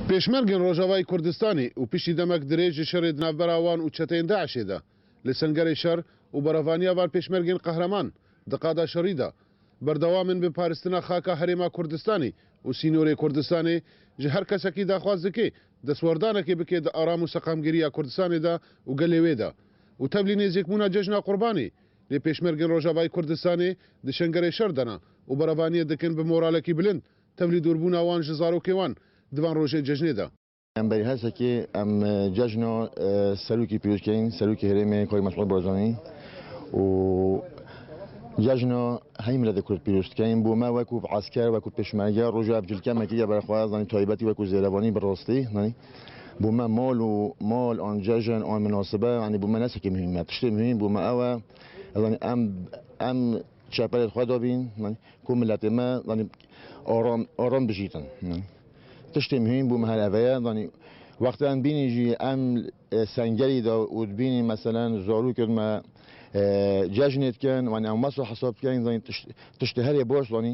Pêşmergên Rojavayê Kurdistanê û piştî demek dirêj ji şerê di navbera wan û çeteyên DAIŞ'ê de li Sengerê şer û berevaniya van pêşmergên qehreman di qada şerî de berdewam in bi paristina xaka Herêma Kurdistanê û sînorê Kurdistanê ji her kesekî daxwaz dike destwerdanekê bike di aram û seqamgiriya Kurdistanê de û gelê wê de û tevlî nêzîkbûna cejna Qurbanê Lê Pêşmergên Rojavayê Kurdistanê di Şengerê şer dana û berevaniyê dikin bi moralekî bilind tevlî dûrbûna wan ji zarokê wan di van rojê cejnê de. Em berî her sekê em cejna serokê pîroz keyên Serokê Herêmê Kayî Mesûd Barzanî û cejna hemî miletê Kurd pîroz dikeyên. Bo me wekû esker, wekû pêşmerge roja ev cilkemekê ye berxwe zanî taybetî wekû zêrevanî bi rastî. Bo me mal û mal an cejn an minasibe yanî bo me ne tiştekî muhîm e. Tiştê muhîm bo me ew e zanî em em çepelê xwe de bîn zanî ku miletê me zanî aram aram bijîtin. Tiştê muhîm bo me her ev ye zanî wextê em bînî jî em sengerî de û dibînî meselen zarokên me cejnê dikin zanî em wesa hesab dikin zanî tiştê herê baş zanî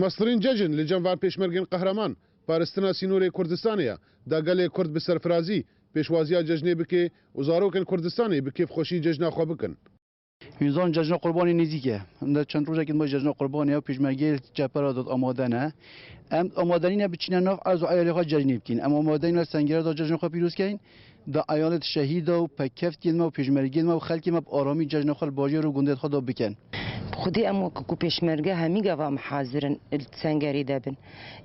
Mesrîn Cejin li cem-va pêşmergên qehreman, paristina sînorê Kurdistanê ya, da gelê Kurd bi serfirazî, pêşwaziya cejnê bike û zarokên Kurdistanê bi kêfxweşî cejna xwe bikin. Hûn zanin Cejna Qurbanê nêzîk e. Em di çend rojekî din ma Cejna Qurbanê ye û pêşmergeyê li çepe re dot amade ne. Em amade nîne biçîne nav erz û eyalê xwe cejnê bikîn. Em amade nîne li Sengere da cejna xwe pîroz kein. da eyalet şehîda û pekevtiyên me û pêşmergeyên me û xelkê me bi aramî cejna xwe li bajêr û gundên xwe da bikin. Bi xwedî em wek ku pêşmerge hemî gava em hazir in li sengerê de bin.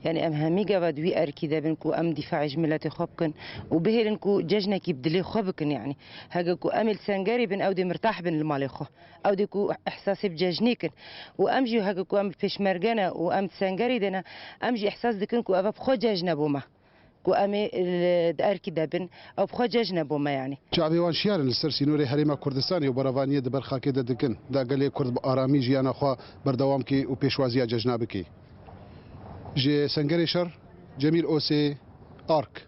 Yanî em hemî gava di wî erkî de bin ku em dîfaê ji miletê xwe bikin û bihêlin ku cejnekî bi dilê xwe bikin yanî. Hege ku em ê li sengerê bin ewdê mirtah bin li malê xwe. Ewdê ku îhsasê bi cejnê kin. Û em jî hege ku em bi pêşmerge ne û em di sengerê de ne em jî îhsas dikin ku eve bi xwe cejn e bo me. Ku em ê di erkî de bin, ew bi xwe cejn e bo me yanî. Çavê wan şiyarin li ser sînorê Herêma Kurdistanê û beravaniyê di ber xakê de dikin. Da gelê Kurd bi aramî jiyana xwe berdewam kê û pêşwaziya cejna bikê. Ji Sengerê Şer, Cemîl Osê, ark.